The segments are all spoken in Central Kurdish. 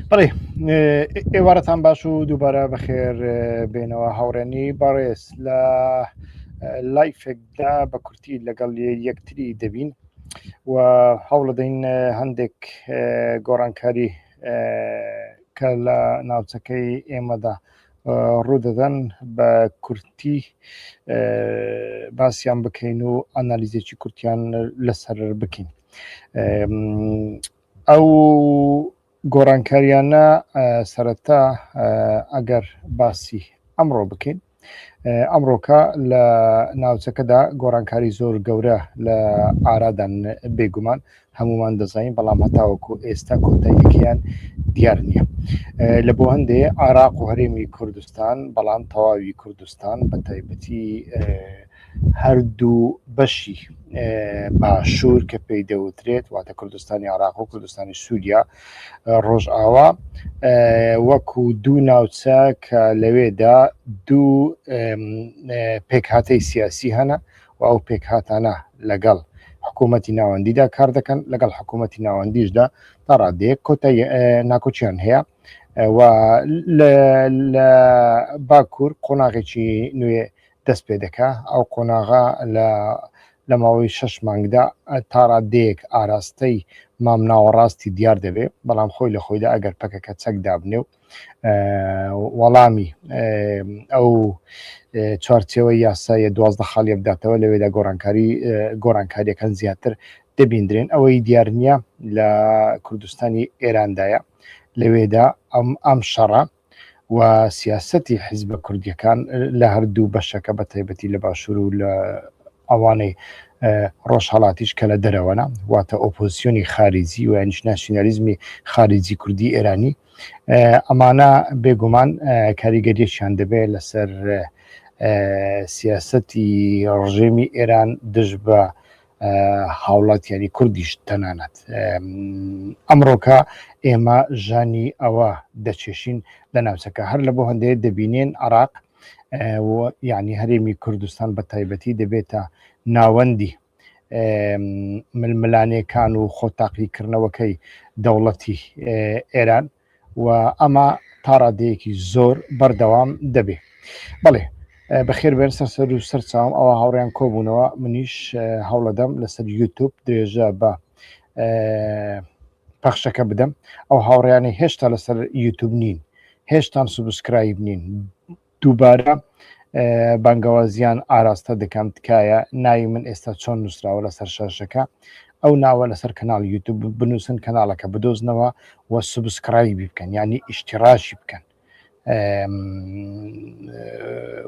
بڵێ ئێوارەتان باش و دووبارە بەخێر بێنەوە هاوڕێنی بەڕێز لە لایفێکدا بە کورتی لەگەڵ یەکتری دەبین و هەوڵدەین هەندێک گۆڕانکاری کە لە ناوچەکەی ئێمەدا ڕوودەدەن بە کورتی باسییان بکەین و ئەنالیزێکی کورتیان لەسەر بکەین. ئەو گۆڕانکاریانە سەرەتا ئەگەر باسی ئەمڕۆ بکەین ئەمڕۆکە لە ناوچەکەدا گۆڕانکاری زۆر گەورە لە ئارادان بێگومان هەمومان دەزانین بەڵام هەتاوەکو ئێستا کۆتاییەکەیان دیار نییە لە بۆ هەندێ عراق و هەرێمی کوردستان بەڵام تەواوی کوردستان بە تایبەتی ئەه هەردوو بەشی باشوور کە پێی دەوترێت واتە کوردستانی عراق و کوردستانی سووریا ڕۆژئاوا وەکو دوو ناوچە کە لەوێدا دوو پێکهاتەی سیاسی هەنە و ئەو پێکهاتانە لەگەڵ حکوومەتی ناوەندیدا کار دەکەن لەگەڵ حکوومەتی ناوەندیشدا تا ڕادەیەک کۆتە ناکۆچیان هەیە و لە باکوور قۆناغێکی نوێ دەست پێ دەکا، ئەو قۆناغە لە لە ماوەی شەش مانگدا تا ڕاددەیەک ئاراستەی مام ناوەڕاستی دیار دەبێ، بەڵام خۆی لە خۆیدا ئەگەر پەکەکە چەک دابنێ و وەڵامی ئەو چوارچێوەی یاسایە دوازدە خاڵیە بداتەوە لەوێدا گۆڕانکاری گۆڕانکاریەکان زیاتر دەبیندرێن ئەوەی دیارنیە لە کوردستانی ئێراندایە لەوێدا ئەم ئەم شەڕە و سیاسەتی حیزبە کوردیەکان لە هەردوو بەشەکە بە تایبەتی لە باشوور و لە ئەوانەی ڕۆژهڵاتیش کە لە دەرەوەە واتە ئۆپۆزیسیۆنی خارجی و یانیش ناسیۆنالیزمی خارجی کوردی ئێرانی ئەمانە بێگومان کاریگەریەکیان دەبێت لەسەر سیاسەتی ڕژێمی ئێران دژ بە هاوڵاتیانی کوردیش تەنانەت ئەمڕۆکە ئێمە ژانی ئەوە دەچێشین لە ناوچەکە هەر لە بۆ هەندێک دەبینێن عراق یعنی هەرێمی کوردستان بە تایبەتی دەبێتە ناوەندی ململانێکان و خۆتاقیکردنەوەکەی دەوڵەتی ئێران و ئەمە تا ڕادەیەکی زۆر بەردەوام دەبێ بەڵێ بەخێر بێن سەر سەر و سەر چاوم ئەوە هاوڕیان کۆبوونەوە منیش هەوڵەدەم لەسەر یوتوب درێژە بە پەخشەکە بدەم ئەو هاوڕیانی هێشتا لەسەر یوتوب نین هێشتان سوبسکرایب نین دووبارە بانگەوازیان ئاراستە دەکەم تکایە ناوی من ئێستا چۆن نووسراوە لەسەر شاشەکە ئەو ناوە لەسەر کەناڵ یوتوب بنووسن کەناڵەکە بدۆزنەوە و سوبسکرای بکەن ینی ئیشتیڕاشی بکەن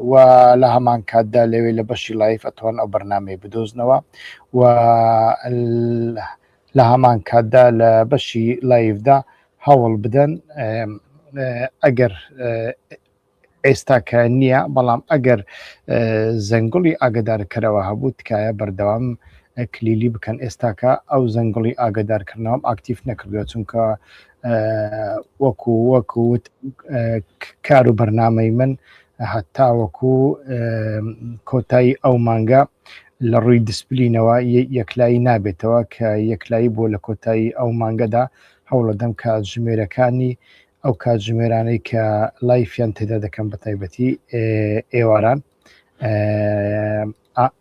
و لە هەمان کاتدا لەوێ لە بەشی لایف ئەتوان ئەو بەرنمەی بدۆزنەوە و لە هەمان کاتدا لە بەشی لایفدا هەوڵ بدەن ئەگەر ئێستاکە نییە بەڵام ئەگەر زەنگڵی ئاگدارکەرەوە هەبوو تکایە بەردەوام کلیلی بکەن ئێستاکە ئەو زەنگڵی ئاگدارکردنەوەم ئاکتیف نەکردووە چونکە وەکو وەکو کار و بەرنمەی من هەتا وەکو کۆتایی ئەو مانگە لە ڕووی دیسپلینەوە یەکلایی نابێتەوە کە یەکلایی بۆ لە کۆتایی ئەو مانگەدا هەوڵەدەم کە ژمێرەکانی ئەو کاتژمێرانەی کە لایفیان تێدا دەکەم بە تایبەتی ئێواران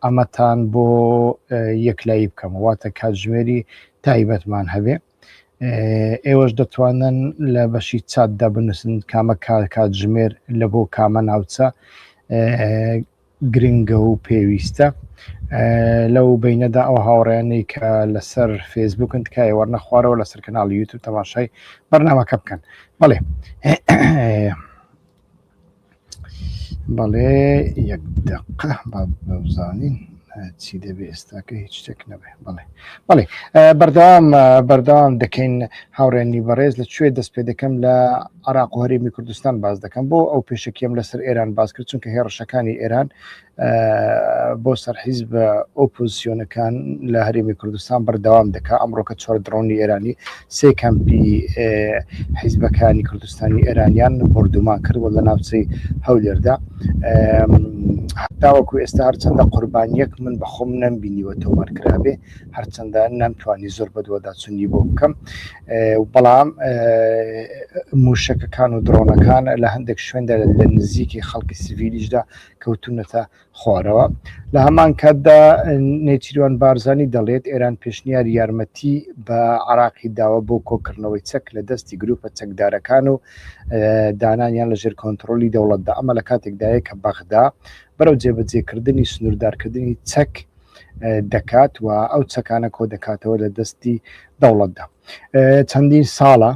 ئەمەتان بۆ یەکلایی بکەم واتە کاتژمێری تایبەتمان هەبێ ئێوەش دەتوانن لە بەشی چاتدا بنووسن کامە کار کاتژمێر لە بۆ کامە ناوچە گرنگە و پێویستە لەو بینەدا ئەو هاوڕیانەی کە لەسەر فێسبوکن تکایە وەرنە خوارەوە لەسەر کەناڵی یوتوب تەماشای بەرنامەکە بکەن بەڵێ بەڵێ یەک دقە بەزانین چی دەبێ ئێستاکە هیچ شتێک نەبێ بڵێ بەڵێ بەردەوام بەردەوام دەکەین هاوڕێنی بەڕێز لە کوێ دەست پێ دەکەم لە عراق و هەرێمی کوردستان باز دەکەم بۆ ئەو پێشکیم لەسەر ئێران باز کرد چونکە هێڕشەکانی ئێران بۆ سەرحیز بە ئۆپۆزیسیۆنەکان لە هەرێمی کوردستان بەردەوام دەکا ئەمڕۆکە چۆر دڕۆنی ئێرانی سێ کەمپی حیزبەکانی کوردستانی ئێرانیان بۆردومان کرد و لە ناوچەی هەولێردا هەتاوەکو ئێستا هەرچەندە قوربانیەک من بەخۆم نەمبینیوە تۆمارکرابێ هەرچەندە نەمتوانی زۆر بەدوەداچوونی بۆ بکەم بەڵام موشەکەکان و درۆنەکان لە هەندێک شوێندا لە نزیکی خەڵکی سڤیلیشدا کەوتونەتە خوارەوە لە هەمان کاتدا نێچیروان بارزانی دەڵێت ئێران پێشنیار یارمەتی بە عراقی داوە بۆ کۆکردنەوەی چەک لە دەستی گروپە چەکدارەکان و دانانیان لەژێر کۆنتترۆلی دەوڵەتدا ئەمە لە کاتێکدایە کە بەغدا بەرەو جێبەجێکردنی سنووردارکردنی چەک دەکات و ئەو چەکانە کۆ دەکاتەوە لە دەستی دەوڵەتدا چەندین ساڵە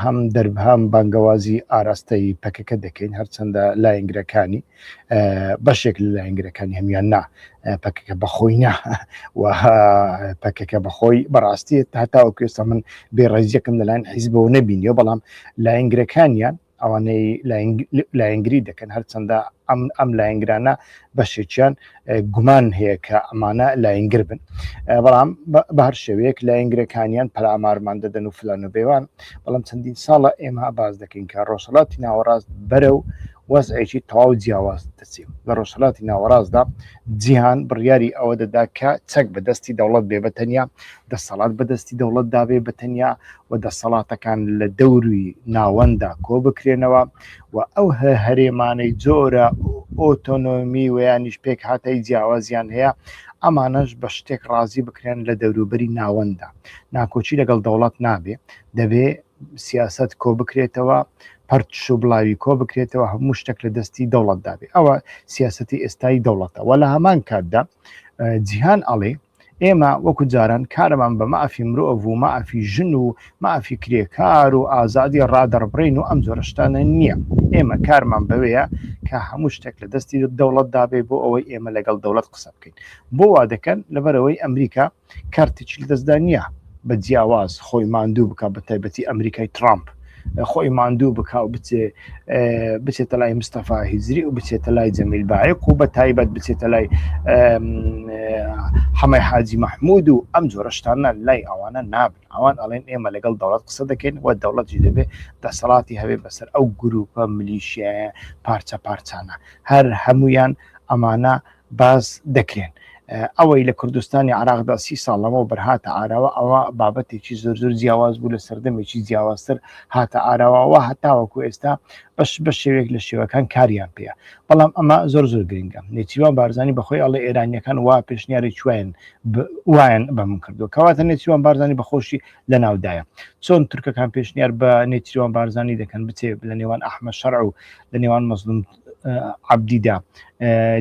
هەم دەربهام بانگەوازی ئاراستەی پەکەکە دەکەین هەرچەندە لاینگرەکانی بەشێک لە لاینگرەکانی هەمیان نا پەکەکە بەخۆی نا و پەکەکە بەخۆی بەڕاستی تاتاوە کوێستا من بێڕێزیەکەم لەلاەن حیزبەوە نەبینیەوە بەڵام لاینگرەکانیان ئەوانەی لایەنگری دەکەن هەرچەندە ئەم ئەم لایەنگرانە بەشێکیان گومان هەیە کە ئەمانە لایەنگر بن بەڵام بە هەر شێوەیەک لایەنگرەکانیان پەرامارمان دەدەن و فلان و بێوان بەڵام چەندین ساڵە ئێمە باز دەکەین کە ڕۆژهڵاتی ناوەڕاست بەرە و وەزعێکی تەواو جیاواز دەچێت لە ڕۆژهڵاتی ناوەڕاستدا جیهان بڕیاری ئەوە دەدا کە چەک بەدەستی دەوڵەت بێ بە تەنیا دەسەڵات بە دەستی دەوڵەتدا بێ بە تەنیا و دەسەڵاتەکان لە دەوروی ناوەنددا کۆ بکرێنەوە و ئەو هەرێمانەی جۆرە ئۆتۆنۆمی ویانیش پێک هاتای جیاوازیان هەیە ئەمانەش بە شتێک ڕازی بکرێن لە دەوروبەری ناوەنددا ناکۆچی لەگەڵ دەوڵەت نابێ دەبێ سیاست کۆ بکرێتەوە پرتش و بڵاوی کۆ بکرێتەوە هەموو شتێک لە دەستی دەوڵەتدابێ ئەوە سیاستی ئێستای دەوڵەتەوە لە هەمان کاتدا جیهان ئەڵێ ئێمە وەکو جاران کارەمان بە مافی مرۆڤ و مافی ژن و مافی کرێکار و ئازادی ڕادەڕبرین و ئەم جۆرەشتانە نییە ئێمە کارمان بەوەیە کە هەموو شتێک لە دەستی دەوڵەت دابێ بۆ ئەوەی ئێمە لەگەڵ دەوڵەت قسە بکەین بۆ وا دەکەن لەبەرەوەی ئەمریکا کارتێکی لە دەستدا نییە بە جیاواز خۆی ماندوو بکە بە تایبەتی ئەمریکای ترامپ خۆی ماندوو بک و بچێ بچێتە لای مستەفا هیزری و بچێتە لای جەمیل باەک و بە تایبەت بچێتە لای حەمای حاجی مححمود و ئەم جۆرەشتانە لای ئەوانە نابن ئەوان ئەڵێن ئێمە لەگەڵ دەوڵەت قسە دەکەین و دەوڵەتی دەبێت دەسەڵاتی هەوێ بەسەر ئەو گروپە ملیشیایە پارچە پارچانە هەر هەمویان ئەمانە باس دەکرێن ئەوەی لە کوردستانی عراقدا سی ساڵ لەمەوە بەرهاتە ئاراوە ئەوە بابەتێکی زۆر زۆر جیاواز بوو لە سەردەمێکی جیاوازتر هاتە ئاراوەوە هەتاوەکو ئێستا بەش بە شێوێک لە شێوەکان کاریان پێ بەڵام ئەمە زۆر زۆر گرنگە نێچیوان بارزانانی بەخۆی ئەڵێ ئێرانیەکان وا پێشنیاری چوین وایەن بە من کردو کەواتە نێچیوان بارزانانی بەخۆشی لە ناودایە چۆن تورکەکان پێشنیار بە نێچیوان بارزانانی دەکەن بچێ لە نێوان ئەحمە شەرع و لە نێوان مەزلوم عەبدیدا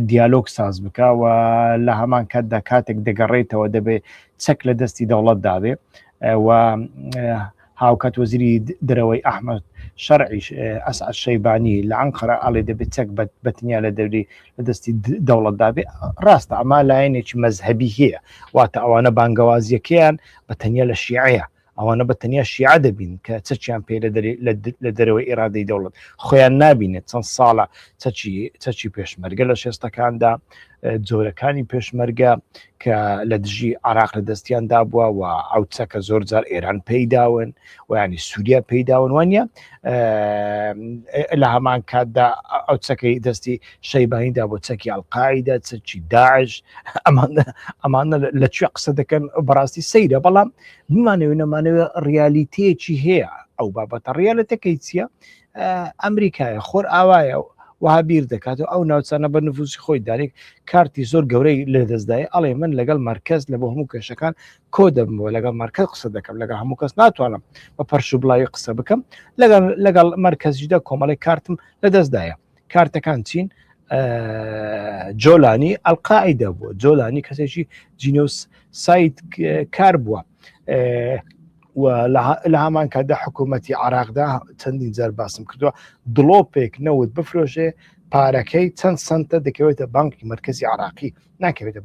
دیالۆگ ساز بکە و لە هەمان کاتدا کاتێک دەگەڕێتەوە دەبێت چەک لە دەستی دەوڵەت دابێ و هاوکات وەزیری درەوەی ئەحمد شەرعیش ئەس شەیبانی لە ئەنقەرە ئاڵێ دەبێت چەک بەتنیا لە دەوری لە دەستی دەوڵەت دابێ ڕاستە ئەما لایەنێکی مەذهبی هەیە واتە ئەوانە بانگەوازیەکەیان بە تەنیا لە شیعەیە ئەوانە بە تەنیا شیعە دەبین کە چەچیان پێ لە دەرەوەی ئێرادەی دەوڵەت خۆیان نبینێت چەند ساڵە چەچی پێشمەرگە لە شێستەکاندا جۆرەکانی پێشمەرگە کە لە دژی عراق لە دەستیان دابووە و ئەو چەکە زۆر جار ئێران پێیداون و ینی سووریا پێیداون وانە لە هەمان کاتدا ئەو چەکەی دەستی شەیبانیدا بۆ چەکی ئەلقاعدا چەکی داعش ئەمانە لە کوێ قسە دەکەن بەڕاستی سەیرە بەڵام بمانەوێ نەمانەوێ ڕیالیتەیەکی هەیە ئەو بابەتە ڕیالەتەکەی چییە ئەمریکایە خۆر ئاوایە و وها بیر دەکات و ئەو ناوچانە بە نفوسی خۆی دارێک کارتی زۆر گەورەی لە دەستدای ئەڵێ من لەگەڵ مرکز لە بۆ هەموو کێشەکان کۆ دەبمەوە لەگەڵ مرکز قسە دەکەم لەگە هەموو کەس ناتوانم بە پەرش و بڵاوی قسە بکەم لەگەڵ لەگەڵ مرکزیدا کۆمەڵی کارتم لە دەستدایە کارتەکان چین جۆلانی ئەلقاعدا بووە جۆلانی کەسێکی جینۆس سایت کار بووە لە هەمان کاتدا حکوومەتتی عراقدا چەندین جار باسم کردووە دڵۆپێک نەوت بفرۆشێ پارەکەی چەند سنتە دەکەوێتە بانکی مرکزی عراقی ناکەوێتە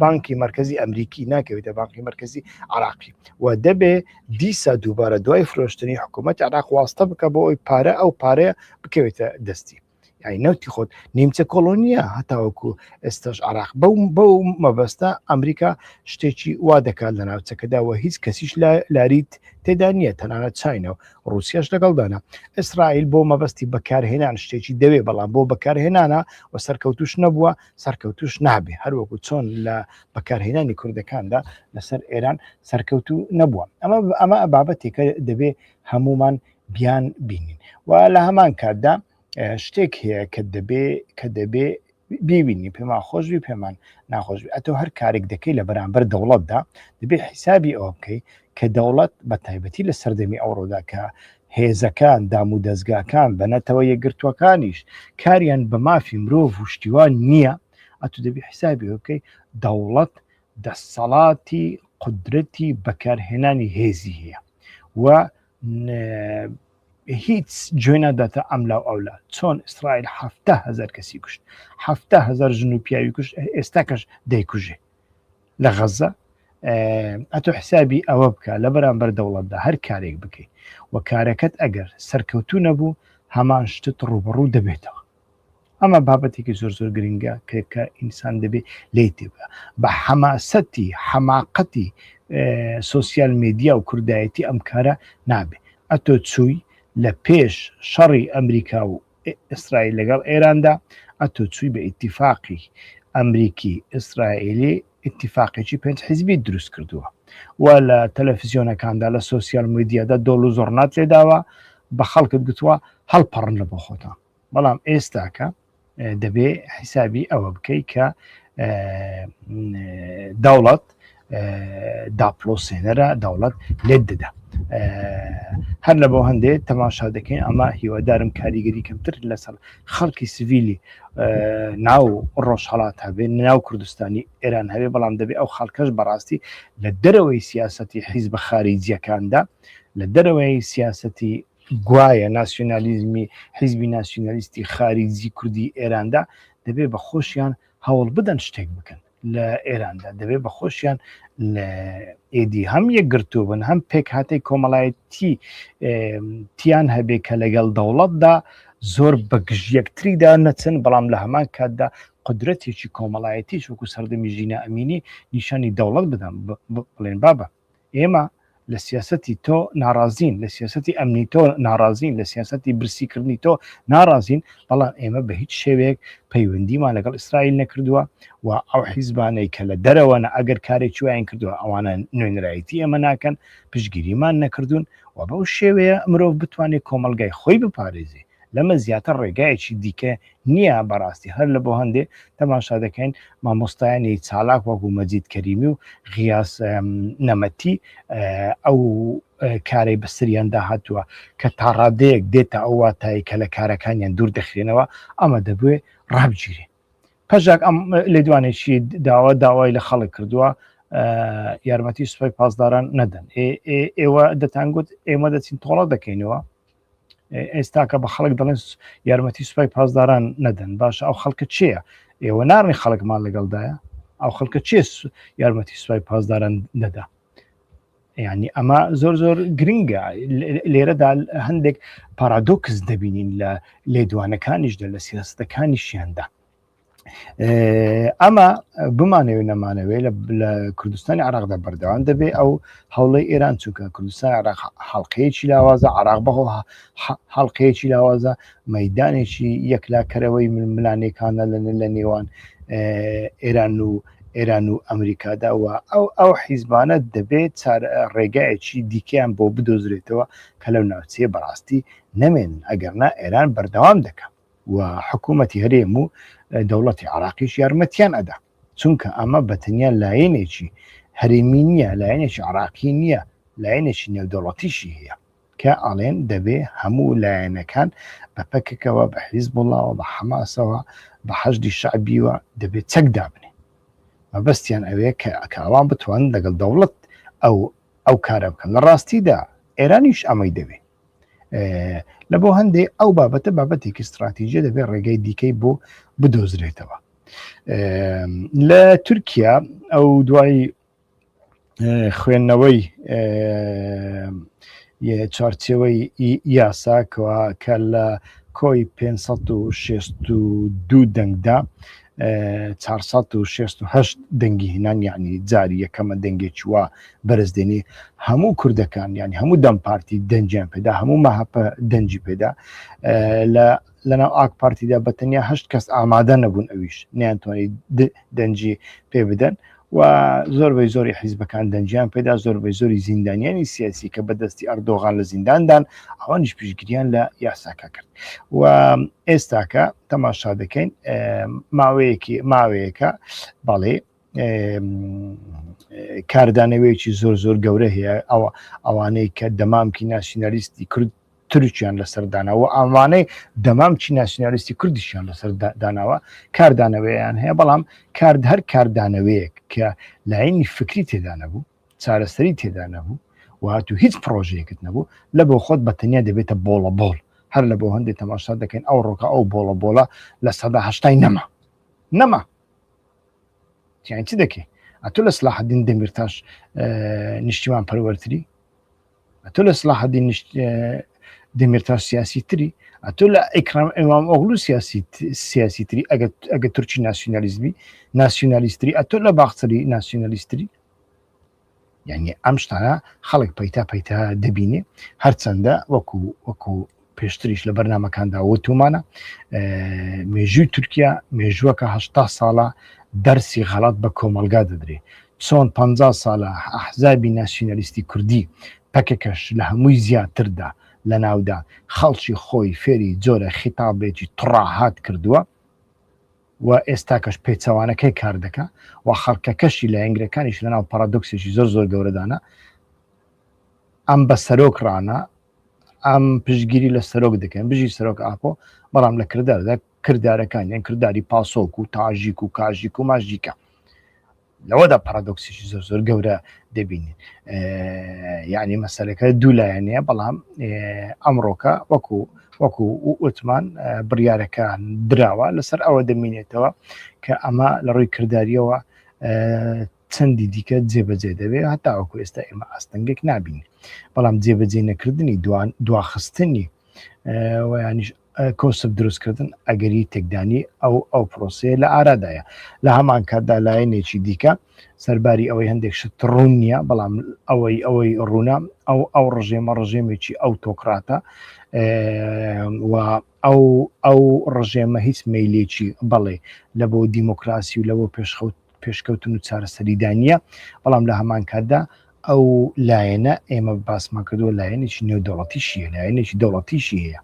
بانکی مرکزی ئەمریکی ناکەوێتە بانکی مرکزی عراقی و دەبێ دیسا دووبارە دوای فرۆشتنی حکوومەت عراق واستە بکە بۆ ئەوی پارە ئەو پارەیە بکەوێتە دەستی یعنی نەوتی خۆت نیمچە کۆلۆنیە هەتاوەکو ئێستاش عراق بەو بەو مەبەستە ئەمریکا شتێکی وا دەکات لە ناوچەکەدا و هیچ کەسیش لاریت تێدا نییە تەنانەت چینەوە ڕوسیاش لەگەڵدانە ئیسرائیل بۆ مەبەستی بەکارهێنان شتێکی دەوێ بەڵام بۆ بەکارهێنانە و سەرکەوتوش نەبووە سەرکەوتوش نابێ هەروەکو چۆن لە بەکارهێنانی کوردەکاندا لەسەر ئێران سەرکەوتو نەبووە ئەمە ئەمە بابەتێکە دەبێ هەمومان بیان بینین و لە هەمان کاتدا شتێک هەیە کە دەبێ کە دەبێ بیبینی پێمان خۆشبی پێمان ناخۆشبی ئەتۆ هەر کارێک دەکەی لە بەرامبەر دەوڵەتدا دەبێ حیسابی ئەوە بکەی کە دەوڵەت بە تایبەتی لە سەردەمی ئەوڕۆدا کە هێزەکان دام و دەستگاکان بە نەتەوە یەکگرتووەکانیش کاریان بە مافی مرۆڤ و شتیوان نییە ئەتو دەبی حیسابی بکەی دەوڵەت دەسەڵاتی قدرەتی بەکارهێنانی هێزی هەیە و هیچ جوێ ناداتە ئەملا و ئەولا چۆن ئیسرائیل حفتا هزار کەسی کوشت حفتا هزار ژن و پیاوی کوشت ئێستا کەش دەیکوژێ لە غەزە ئەتۆ حسابی ئەوە بکە لە بەرامبەر دەوڵەتدا هەر کارێک بکەیت و کارەکەت ئەگەر سەرکەوتو نەبوو هەمان شتت ڕوبڕوو دەبێتەوە ئەمە بابەتێکی زۆر زۆر گرنگە کە ئینسان دەبێت لی تێبە بە حەماسەتی حەماقەتی سوسیال میدیا و کوردایەتی ئەم کارە نابێت ئەتۆ چووی لە پێش شەڕی ئەمریکا و ئیسرائیل لەگەڵ ئێراندا ئەتۆ چووی بە ئیتیفاقی ئەمریکی ئیسرائیلی ئیتیفاقێکی پێنج حیزبی دروست کردووە و لە تەلەفزیۆنەکاندا لە سوسیال میدیادا دۆڵ و زۆڕنات لێداوە بە خەڵکت گوتووە هەڵپەڕن لە بۆ خۆتان بەڵام ئێستاکە دەبێ حیسابی ئەوە بکەیت کە دەوڵەت داپلۆسێنەرە دەوڵەت لێت دەدا هەر لە بۆ هەندێ تەماشا دەکەین ئەمە هیوادارم کاریگەری کەمتر لەسەر خەڵکی سڤیلی ناو ڕۆژهڵات هەبێ ناو کوردستانی ئێران هەبێ بەڵام دەبێ ئەو خەڵکەش بەڕاستی لە دەرەوەی سیاستی حیز بە خارجیەکاندا لە دەرەوەی سیاستی گوایە ناسیۆنالیزمی حیزبی ناسیۆنالیستی خاریجی کوردی ئێراندا دەبێ بە خۆشیان هەوڵ بدەن شتێک بکەن لە ئێراندا دەبێ بە خۆشیان لە ئێدی هەم یەکگرتوو بن هەم پێک هااتەی کۆمەڵایەتی تیان هەبێ کە لەگەڵ دەوڵەتدا زۆر بەگژیەکتریدا نەچن بەڵام لە هەمان کاتدا قدرەتێکی کۆمەڵایەتی چوەکو سەردەمی ژینە ئەمینی نیشانی دەوڵەت بدەم بڵێن بابە ئێمە لە سیاسەتی تۆ ناڕازین لە سیاسەتی ئەمنی تۆ ناڕازین لە سیاسەتی برسیکردنی تۆ ناڕازین بەڵام ئێمە بە هیچ شێوەیەک پەیوەندیمان لەگەڵ ئیسرائیل نەکردووە و ئەو حیزبانەی کە لە دەرەوەە ئەگەر کارێکی وایان کردووە ئەوانە نوێنرایەتی ئێمە ناکەن پشگیریمان نەکردوون و بەو شێوەیە مرۆڤ بتوانێت کۆمەلگای خۆی بپارێزی لەمە زیاتر ڕێگایەکی دیکە نییە بەڕاستی هەر لە بۆ هەندێ تەماشا دەکەین مامۆستایانی چالاک وەکو مەجید کەریمی و غیاس نەمەتی ئەو کارەی بەسریان داهاتووە کە تا ڕادەیەک دێتە ئەو واتایی کە لە کارەکانیان دوور دەخرێنەوە ئەمە دەبێ ڕابگیرێ پەژاک ئەم لێدوانێکی داوا داوای لە خەڵک کردووە یارمەتی سوپای پاسداران نەدەن ئێوە دەتانگوت ئێمە دەچین تۆڵە دەکەینەوە ئێستاکە بە خەڵک دەڵێن یارمەتی سوپای پاسداران نەدەن باشە ئەو خەڵکە چیە ئێوە ناڕنی خەڵکمان لەگەڵدایە ئەو خەڵکە چێ یارمەتی سوپای پاسداران نەدا ینی ئەمە زۆر زۆر گرنگە لێرەدا هەندێک پارادۆکس دەبینین لە لێدوانەکانیشدا لە سیاستەکانیشیاندا ئەمە بمانەوێت نەمانەوەی لە کوردستانی عراقدا بەردەوام دەبێت ئەو هەوڵی ئێران چونکە کوردستان عراق حڵلقەیەکی لاوازە عراق بەهۆ حڵلقەیەکی لاوازە مەدانێکی یەکلاکەرەوەی ململانێکانە لە لە نێوان ئێران و ئێران و ئەمریکادا و ئەو ئەو حیزبانە دەبێت ڕێگایەکی دیکەیان بۆ بدۆزرێتەوە کە لەو ناوچەیە بەڕاستی نەمێن ئەگەرنا ئێران بەردەوام دەکەم و حکوومەتی هەرێم و دەوڵەتی عراقیش یارمەتیان ئەدا چونکە ئەمە بەتەنیا لایەنێکی هەرێمی نییە لایەنێکی عراقی نییە لایەنێکی نێودەوڵەتیشی هەیە کە ئاڵێن دەبێ هەموو لایەنەکان بە پەکەکەوە بە حیز بڵاوە بە حەماسەوە بە حەشدی شعبیوە دەبێت چەک دابنێ مەبەستیان ئەوەیە کە ئەکاوان بتوان لەگەڵ دەوڵەت ئەو ئەو کارە بکەن لە ڕاستیدا ئێرانیش ئەمەی دەوێت لە بۆ هەندێک ئەو بابەتە بابەتێکی استراتیژە دەبێت ڕێگەی دیکەی بۆ بدۆزرێتەوە لە تورکیا ئەو دوای خوێندنەوەی چارچەوەی یاسا کە لە کۆی 562 دەنگدا 468 دەنگی هێنان یعنی جاری یەکەمە دەنگێکی وا بەرز دێنی هەموو کوردەکان یعنی هەموو دەم پارتی دەنجیان پێدا هەموو مەهپە دەنجی پێدا لە لەناو ئاک پارتیدا بەتەنیا هەشت کەس ئامادە نەبوون ئەویش نیانتوانانی دەنجی پێ بدەن و زۆر بەی زۆری حیزبەکان دەنجیان پێدا زۆر بەی زۆری زیندانیانی سیاسی کە بەدەستی ئەردۆغان لە زینداندان ئەوانش پشتگیریان لە یاساکە کرد و ئێستاکە تەماشا دەکەین ماوەیەکی ماوەیەەکە بەڵێ کاردانەوەیەکی زۆر زۆر گەورە هەیە ئەوە ئەوانەی کە دەمامکی ناسیۆنالیستی کورد ترکیان لەسەر داناوە ئامانەی دەمام چی ناسیۆنالیستی کوردیشیان لەسەر داناوە کاردانەوەیان هەیە بەڵام کارد هەر کاردانەوەیەک کە لاینی فکری تێدا نەبوو چارەسەری تێدا نەبوو وهات و هیچ پرۆژەیەکت نەبوو لە بۆ خۆت بەتەنیا دەبێتە بۆڵە بۆڵ هەر لە بۆ هەندێک تەماشا دەکەین ئەو ڕۆکە ئەو بۆڵە بۆڵە لە سەدا هەشتای نەما نەما چی دەکەی ئەتو لە سلاحدین دەمیرتاش نیشتیمان پەروەرتری ئەتۆ لە سلاحدی نیشت دەمێرتا سیاسی تری ئەتۆ لە ئەیکرام ئەوام ئۆغلو سیاسی سیاسی تری ئەگە تورکی ناسیۆنالیزمی ناسیۆنالیستری ئەتۆ لە باختری ناسیۆنالیستری یعنی ئەم شتانە خەڵک پیتا پیتا دەبینێ هەرچەندە وەکو وەکو پێشتریش لە بەرنمەکاندا وتومانە مێژووی تورکیا مێژووەکە هشتا ساڵە دەرسی غەڵات بە کۆمەلگا دەدرێت چۆن پ ساڵە ئەحزابی ناسیۆنالیستی کوردی پەکەکەش لە هەمووی زیاتردا لە ناودا خەڵکی خۆی فێری جۆرە خیتابێکی تڕاهات کردووە و ئێستاکەش پێچەوانەکەی کار دەکە و خەڵکەکەشی لە ئەنگرەکانیش لەناو پارادۆکسێکی زۆر زۆر گەورەدانە ئەم بە سەرۆک ڕانە ئەم پشتگیری لە سەرۆک دەکەن بژی سەرۆک ئاپۆ بەڵام لە کرداردا کردارەکان یان کردداری پاسۆک و تاژیک و کاژیک و ماژیکە لەوەدا پارادۆکسیشی زۆر زۆر گەورە دەبینین یعنی مەسەرەکە دوو لایەنەیە بەڵام ئەمڕۆکە وەکو وەکو وتمان بڕیارەکان دراوە لەسەر ئەوە دەمینێتەوە کە ئەمە لە ڕووی کردداریەوە چەندی دیکە جێبەجێ دەبێت هەتاوەکو ئێستا ئێمە ئاستەنگێک نابین بەڵام جێبەجێ نەکردنی دوان دواخستنی ویانیش کۆسب دروستکردن ئەگەری تێکدانی ئەو ئەو پرۆسەیە لە ئارادایە لە هەمان کاتدا لایەنێکی دیکە سەرباری ئەوەی هەندێک شت ڕوون نییە بەڵام ئەوەی ئەوەی ڕوونە ئەو ئەو ڕژێمە ڕژێمێکی ئەو تۆکراتە و ئەو ئەو ڕژێمە هیچ میلێکی بەڵێ لە بۆ دیموکراسی و لەەوە پێشخەوت پێشکەوتن و چارەسەریدا نییە بەڵام لە هەمان کاتدا ئەو لایەنە ئێمە باسمان کردووە لایەنێکی نێودەوڵەتیشیە لایەنێکی دەوڵەتیشی هەیە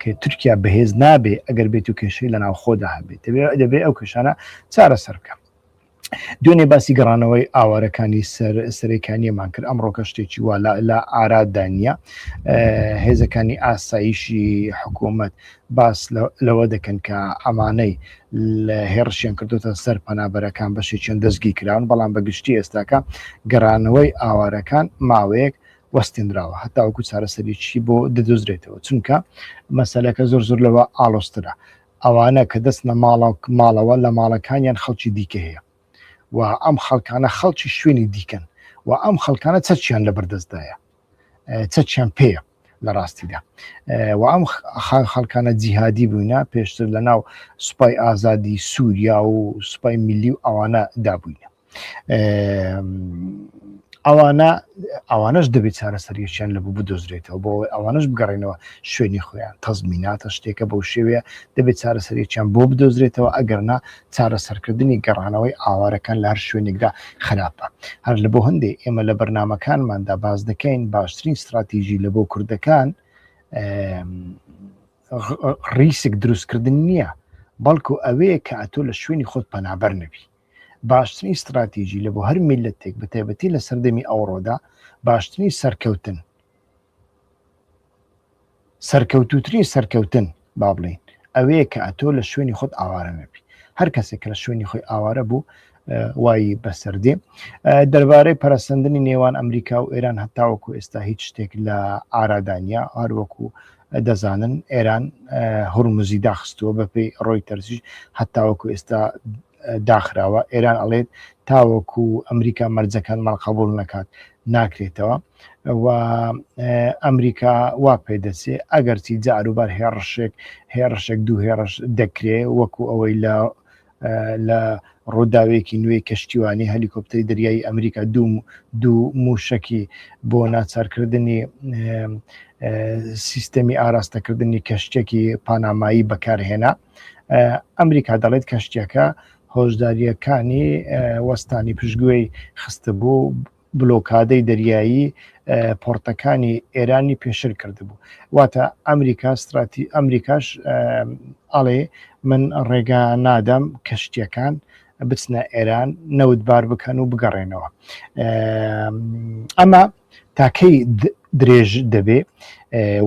کە تورکیا بەهێز نابێ ئەگەر بێت و کێشەی لە ناوخۆدا هەبێت دەبێت دەبێ ئەو کێشانە چارەسەر بکە دوێنێ باسی گەڕانەوەی ئاوارەکانی سەر سەرەکانیەمان کرد ئەمڕۆکە شتێکی وا لە ئارادانە هێزەکانی ئاساییشی حکوومەت باس لەوە دەکەن کە ئەمانەی لە هێڕشیان کردوتە سەر پەنابەرەکان بەشێکیان دەستگی کراون بەڵام بە گشتی ئێستاکە گەڕانەوەی ئاوارەکان ماوەیەک وەستێنراوە هەتاوەکو چارەسەریی بۆ دەدۆزرێتەوە چونکە مەسلەکە زۆر زۆر لەوە ئاڵۆسترە ئەوانە کە دەست لە ماڵاو ماڵەوە لە ماڵەکانیان خەڵکی دیکە هەیە و ئەم خەڵکانە خەڵکی شوێنی دیکەن و ئەم خەڵکانە چەچیان لە بەردەستدایە چەچیان پێە لە ڕاستیدا و ئەم خان خەڵکانە جیهادی بووینە پێشتر لە ناو سوپای ئازادی سووریا و سوپای میلی و ئەوانە دابووینە ئەوانە ئەوانش دەبێت چارەسەریشیان لە بوو بدۆزرێتەوە بۆ ئەوانش بگەڕێنەوە شوێنی خۆیان تەزمیناتە شتێکە بەو شێوەیە دەبێت چارەسەریان بۆ بدۆزرێتەوە ئەگەرنا چارەسەرکردنی گەڕانەوەی ئاوارەکان لە هەر شوێنێکدا خراپە، هەر لە بۆ هەندێ ئێمە لە بەرنامەکانماندا باس دەکەین باشترین ستراتیژی لە بۆ کوردەکان ڕیسک دروستکردن نییە، بەڵکو ئەوەیە کە ئەتۆ لە شوێنی خۆت پەنابەر نەبی. باشترین ستراتیژی لە بۆ هەر میلەتێک بە تایبەتی لە سەردەمی ئەوڕۆدا باشترین سەرکەوتن سەرکەوتووترین سەرکەوتن با بڵێین ئەوەیە کە ئەتۆ لە شوێنی خۆت ئاوارە نەبی هەر کەسێک کە لە شوێنی خۆی ئاوارە بوو وای بەسەردێ دەربارەی پەرسەندنی نێوان ئەمریکا و ئێران هەتاوەکو ئێستا هیچ شتێک لە ئارادانیا هەروەکو دەزانن ئێران هورمزی داخستووە بەپی ڕۆی تەرسیش هەتاوەکو ئێستا داخراوە ئێران ئەڵێت تاوەکو ئەمریکا مەرجەکان ماڵقبول نەکات ناکرێتەوە و ئەمریکا وا پێ دەچێ ئەگەرچی جاروبار هێڕشێک هێڕشێک دوو هێڕش دەکرێ وەکو ئەوەی لە لە ڕووداوێکی نوێی کەشتیوانی هەلیکۆپتەری دەریایی ئەمریکا دوو دوو موشەکی بۆ ناچارکردنی سیستەمی ئاراستەکردنی کەشتێکی پانامایی بەکارهێنا ئەمریکا دەڵێت کەشتەکە هۆشداریەکانی وەستانی پشتگوێی خستە بوو بلۆکادەی دەریایی پۆرتەکانی ئێرانی پێشر کردبوو واتە ئەمریکا ستراتی ئەمریکاش ئەڵێ من ڕێگا نادەم کەشتیەکان بچنە ئێران نەوتبار بکەن و بگەڕێنەوە ئەمە تاکەی درێژ دەبێ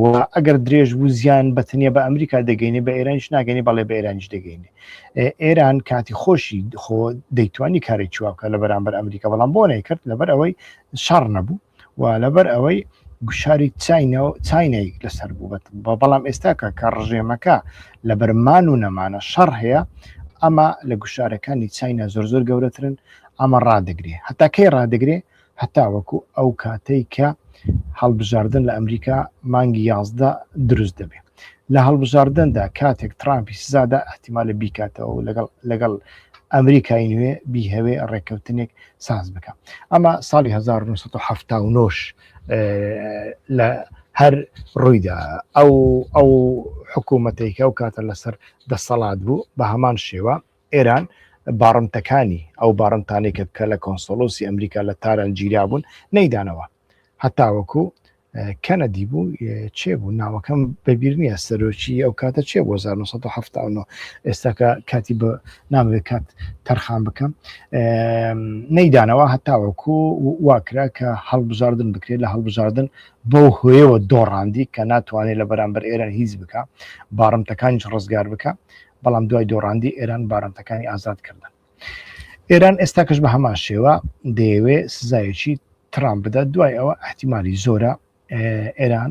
و ئەگەر درێژ بوو زیان بەتنیە بە ئەمریکا دەگەینێ بە ئێرانش ناگەنی بەڵێ بە ئێرانش دەگەینێ ئێران کاتی خۆشی خۆ دەیتوانی کاری چواکە لە بەرامبەر ئەمریکا بەڵام بۆ نەیکرد لەبەر ئەوەی شەڕ نەبوو و لەبەر ئەوەی گوشاری چینەوە چینەی لەسەر بوو بە بەڵام ئێستاکە کە ڕژێمەکە لە بەرمان و نەمانە شەڕ هەیە ئەمە لە گوشارەکانی چینە زۆر زۆر گەورەترن ئەمە ڕدەگرێ هەتا کەی ڕدەگرێ هەتاوەکو ئەو کاتەی کە هەڵبژاردن لە ئەمریکا مانگی یازدە دروست دەبێت لە هەڵبژاردندا کاتێک ترامپی سزادا ئەحتیمالە بیکاتەوە و لەگەڵ لەگەڵ ئەمریکای نوێ بیهەوێ ڕێککەوتنێک ساز بکە ئەمە ساڵی 1970 لە هەر ڕوویدا ئەو ئەو حکوومەتێکە و کاتە لەسەر دەسەڵات بوو بە هەمان شێوە ئێران باڕنتەکانی، ئەو باڕنتانەی کە کە لە کۆنسۆڵۆسی ئەمریکا لە تاران گیرابوون نەیدانەوە هەتاوەکو کەنەدی بوو چێ بوو ناوەکەم بەبییر نییە سەرۆکی ئەو کاتە چێ بۆ 1970 ئێستاکە کاتی بە نامەوێت کات تەرخان بکەم نەیدانەوە هەتاوەکو واکرا کە هەڵبژاردن بکرێت لە هەڵبژاردن بەو هۆیەوە دۆڕاندی کە ناتوانێت لە بەرامبەر ئێران هیچ بکە باڕمتەکانیش ڕزگار بکە بەڵام دوای دۆڕاندی ئێران بارمتەکانی ئازاد کردن ئێران ئێستاکەش بە هەمان شێوە دەیەوێ سزایەکی ترام بدات دوای ئەوە احتیممالی زۆرە ئێران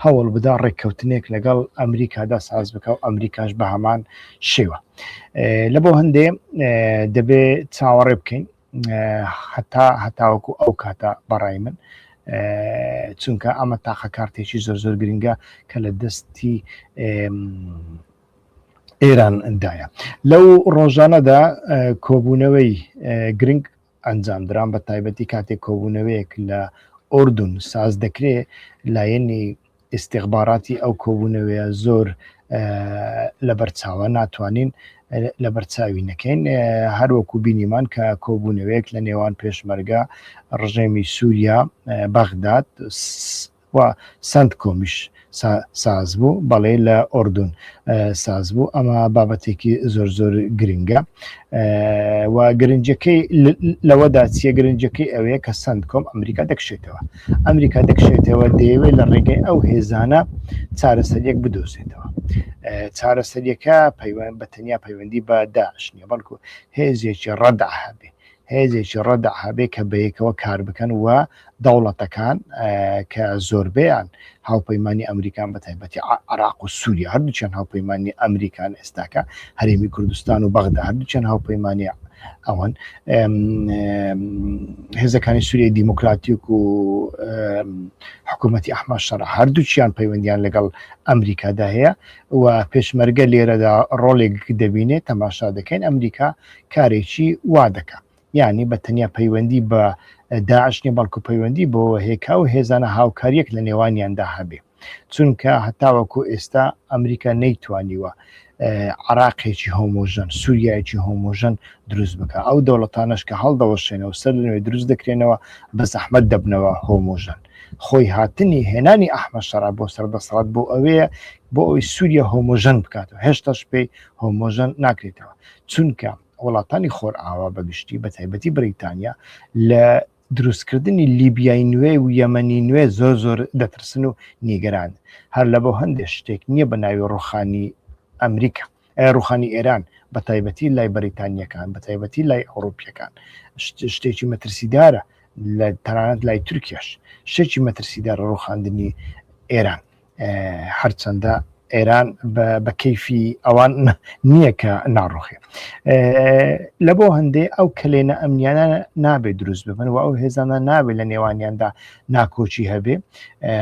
هەوڵ بدا ڕێککەوتنێک لەگەڵ ئەمریکادا ساز بکە و ئەمریکاش بە هەمان شێوە لە بۆ هەندێ دەبێ چاوەڕێ بکەین هەتا هەتاوەکو ئەو کاتە بەڕای من چونکە ئەمە تاقە کارتێکی زۆر زۆر گرنگە کە لە دەستی ئێران دایە لەو ڕۆژانەدا کۆبوونەوەی گرنگ ئەنجام دران بە تایبەتی کاتێک کۆبوونەوەیەک لە ئۆردون ساز دەکرێت لایەنی ئیستیخباراتی ئەو کۆبوونەوەیە زۆر لەبەر چاوە ناتوانین لەبەر چاوی نەکەین هەروەکو بینیمان کە کۆبوونەوەیەک لە نێوان پێشمەرگە ڕژێمی سووریا بەغداد و سند کۆمیش ساز بوو بەڵێ لە ئۆردون ساز بوو ئەمە بابەتێکی زۆر زۆر گرنگە و گرنجەکەی لەوەدا چیە گرنجەکەی ئەوەیە کە سند کۆم ئەمریکا دەکشێتەوە ئەمریکا دەکشێتەوە دەیەوێت لە ڕێگەی ئەو هێزانە چارەسەریەک بدۆزێتەوە چارەسەریەکە پەیوەند بە تەنیا پەیوەندی بە داعش نیە بەڵکو هێزێکی ڕەدا هەبێ هێزێکی ڕەدا هەبێ کە بەیەکەوە کار بکەن و دەوڵەتەکان کە زۆربیان هاوپەیمانی ئەمریکان بە تایبەتی عێراق و سووریا هەردووچیان هاوپەیمانی ئەمریکان ئێستاکە هەرێمی کوردستان و بەغدا هەردووچیان هاوپەیمانی ئەوان هێزەکانی سووریای دیموکراتیک و حکوومەتتی ئەحمە شەڕ هەردووچیان پەیوەندیان لەگەڵ ئەمریکادا هەیە و پێشمەرگە لێرەدا ڕۆڵێک دەبینێت تەماشا دەکەین ئەمریکا کارێکی وا دەکە یعنی بە تەنیا پەیوەندی بە داعش نیە بەڵکو پەیوەندی بۆ هێکا و هێزانە هاوکاریەک لە نێوانیاندا هەبێ چونکە هەتاوەکو ئێستا ئەمریکا نەیتوانیوە عراقێکی هۆمۆژەن سووریایکی هۆمۆژەن دروست بکە ئەو دەوڵەتانش کە هەڵدەوەشێنەوە سەر لەوێ دروست دەکرێنەوە بە زەحمت دەبنەوە هۆمۆژەن خۆی هاتنی هێنانی ئەحمە شەرا بۆ سەر دەسەڵات بۆ ئەوەیە بۆ ئەوی سووریە هۆمۆژەن بکاتەوە هێشتاش پێی هۆمۆژەن ناکرێتەوە چونکە وڵاتانی خۆرئاوا بە گشتی بە تایبەتی بریتانیا لە دروستکردنی لیبیای نوێ و یەمەنی نوێ زۆر زۆر دەترسن و نیگەران هەر لە بۆ هەندێک شتێک نییە بە ناوی ڕوخانی ئەمریکا ڕوخانی ئێران بە تایبەتی لای بەریتانیەکان بە تایبەتی لای ئەوروپیەکان شتێکی مەترسیدارە لە تەنانەت لای تورکیاش شتێکی مەترسیدار ڕوخاندنی ئێران هەرچەندە ئێران بە کەیفی ئەوان نییە کە ناڕوخێ لە بۆ هەندێ ئەو کلێنە ئەمنیانە نابێت دروست ببن و ئەو هێزانە نابێت لە نێوانیاندا ناکۆچی هەبێ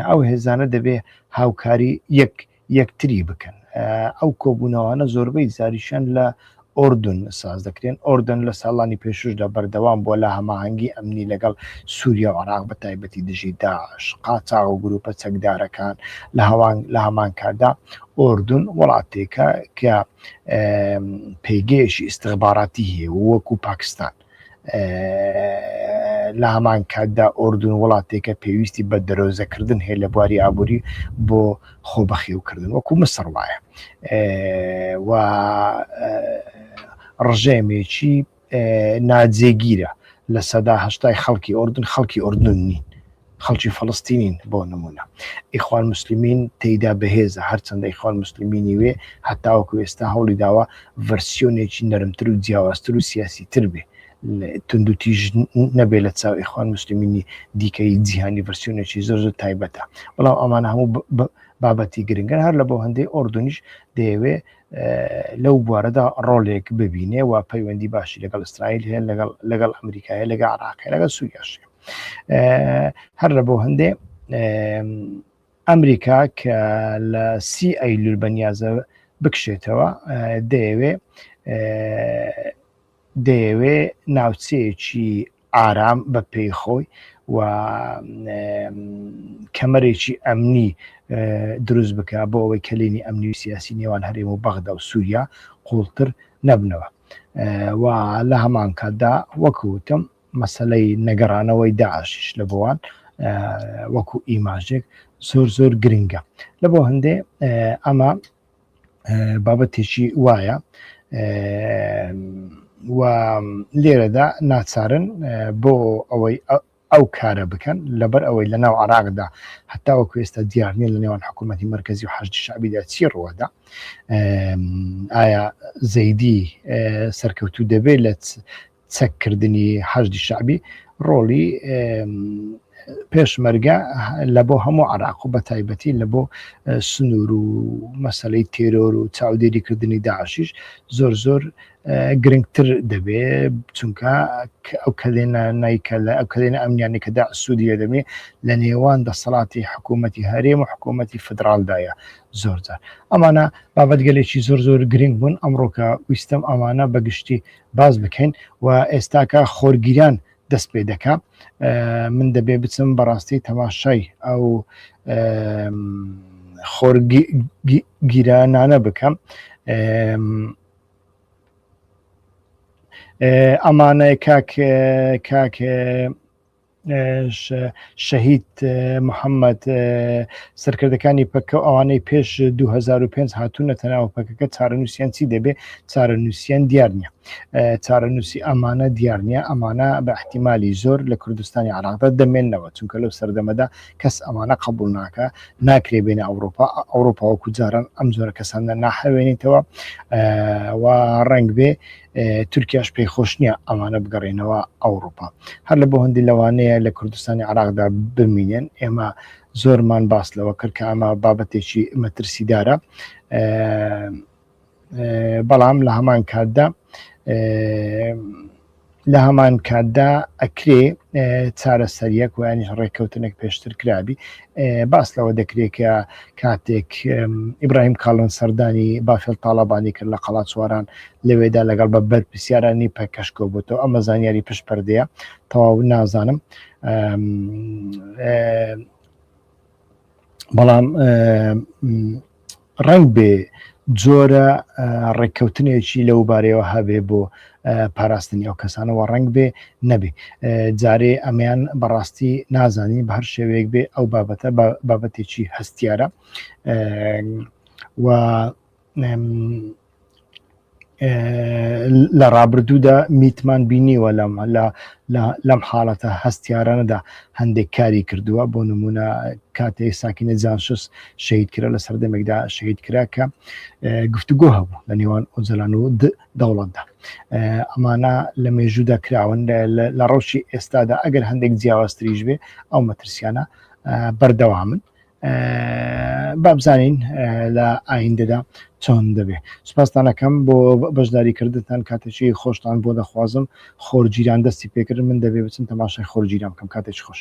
ئەو هێزانە دەبێ هاوکاری یەک یەکتری بکەن ئەو کۆبوونەوانە زۆربەی زاریشان لە ئوردن ساز دەکرێن. ئوردن لە ساڵانی پێشووشدا بەردەوام بووە لە هەماهەنگی ئەمنی لەگەڵ سووریا و عێراق بە تایبەتی دژی داعش، قاچاغ و گرووپە چەکدارەکان، لە هەمانکاتدا ئوردن وڵاتێکە کە پێگەیەکی ئیستخباراتی هەیە و وەکوو پاکستان لە هەمان کاتدا ئۆردون وڵاتێکە پێویستی بە دەرۆزەکردن هەیە لە بواری ئابووری بۆ خۆ بەخێوکردن وەکو مسڕ وایە و ڕژێمێکی ناجێگیرە لە سەدا هەشتای خەڵکی ئۆردن خەڵکی ئۆردن نین خەڵکی فەڵەستینین بۆ نمونە ئیخوان موسلمین تێیدا بەهێزە هەرچەندە ئیخوان موسلمینی وێ هەتاوەکو ئێستا هەوڵی داوە ڤەرسیۆنێکی نەرمتر و جیاوازتر و سیاسی تر بێ توندوتیژ نەبێ لە چاو ئیخوان موسلمینی دیکەی جیهانی ڤەرسیۆنێکی زۆر زۆر تایبەتە بەڵام ئەمانە هەموو بابەتی گرنگەر هەر لە بۆ هەندەی ئۆردونیش دەیەوێ لەو بوارەدا ڕۆلێک ببینێ و پەیوەندی باشی لەگەڵ ئیسرائیل هەیە لەگەڵ لەگەڵ ئەمریکایە لەگە عراقی لەگەڵ سووریاش هەر لە بۆ هەندێ ئەمریکا کە لە سی ئەیلول بەنیازە بکشێتەوە دەیەوێ دەیەوێ ناوچەیەکی ئارام بە پێی خۆی و کەمەرێکی ئەمنی دروست بکە بۆ ئەوەی کەلێنی ئەمنی و سیاسی نێوان هەرێم و بەغدا و سووریا قوڵتر نەبنەوە و لە هەمان کاتدا وەکوتم مەسەلەی نەگەڕانەوەی داعشش لە بۆوان وەکو ئیماژێک زۆر زۆر گرنگە لە بۆ هەندێ ئەمە بابەتێکی وایە و لێرەدا ناچارن بۆ ئەوەی ئەو کارە بکەن لەبەر ئەوەی لە ناو عراقدا هەتا وەکو ئێستا دیارنیە لە نێوان حکوومەتی مرکزی و حشتی شعبیدا چی ڕوەدا ئایا زەیدی سەرکەوتو دەبێت لە چەک کردنی حەشدی شەعبی ڕۆڵی پێشمەرگە لە بۆ هەموو عراق و بە تایبەتی لە بۆ سنوور و مەسلەی تێرۆر و چاودێری کردنی داعشیش زۆر زۆر گرنگتر دەبێ چونکە ئەو کەلێنە نیکە لە ئەو کەلێنە ئەمنیانی کەدا سوودی لە دەبێ لە نێوان دەسەڵاتی حکوومەتتی هەرێم و حکوومەتتی فدرالدایە زۆر زار ئەمانە بابەتگەلێکی زۆر زۆر گرنگ بوون ئەمڕۆکە ویستم ئەمانە بەگشتی باس بکەین و ئێستاکە خۆرگیران دەست پێ دەکا من دەبێ بچم بەڕاستی تەماشای ئەو خۆرگیرانانە بکەم ئەمانە کاک کاک شەهید محەممەد سەرکردەکانی پەکە و ئەوانەی پێش 2005 هاتوونە تەناوە پەکەکە چارەنووسیان چی دەبێ چارەنووسیان دیار نیە چارەنووسی ئەمانە دیار نیە ئەمانە بە احتیممالی زۆر لە کوردستانی عراقدا دەمێنەوە چونکە لەو سەردەمەدا کەس ئەمانە قبول ناکە ناکرێ بێنە ئەوروپا ئەوروپا وەکو جاران ئەم زۆرە کەسانە ناحەوێنیتەوە و ڕنگ بێ تورکیاش پێی خۆش نییە ئەمانە بگەڕێنەوە ئەوروپا هەر لە بۆ هەندی لەوانەیە لە کوردستانی عراقدا بمینێن ئێمە زۆرمان باس لەوە کرد کە ئەمە بابەتێکی مەترسیدارە بەڵام لە هەمان کاتدا لە هەمان کاتدا ئەکرێ چارەسەریەک ویانیش ڕێککەوتنێک پێشتر کرابی باس لەوە دەکرێت کە کاتێک ئیبراهیم کاڵن سەردانی بافل تاالبانی کرد لە قەڵاتسواران لەوێدا لەگەڵ بە بەر پرسیارانی پەکەشکۆ بۆتەوە ئەمە زانیاری پشت پردەیە تەواو نازانم بەڵام ڕەنگ بێ جۆرە ڕێککەوتنێکی لەو بارەیەوە هەبێ بۆ پاراستنی ئەو کەسانەوە ڕنگ بێ نەبێ جارێ ئەمیان بەڕاستی نازانی بە هەر شێوەیەک بێ ئەو بابەتە بابەتێکی هەستیارە و لە ڕابردوودا میتمان بینیوە لەم لە لەم حاڵەتە هەستیارانەدا هەندێک کاری کردووە بۆ نمونە کاتێ ساکینە جانشس شەید کرا لە سەردەمێکدا شەید کرا کە گفتوگۆ هەبوو لە نێوان ئۆجلان و دەوڵەتدا ئەمانە لە مێژوودا کراون لە ڕەوشی ئێستادا ئەگەر هەندێک جیاوازتریش بێ ئەو مەترسیانە بەردەوامن بابزانین لە ئایندەدا چۆن دەبێ سپاستانەکەم بۆ بەشداری کردتان کاتێکی خۆشتان بۆ دەخوازم خۆرگیران دەستی پێکرد من دەبێ بچم تەماشای خۆرگیران بکەم کاتێک خۆش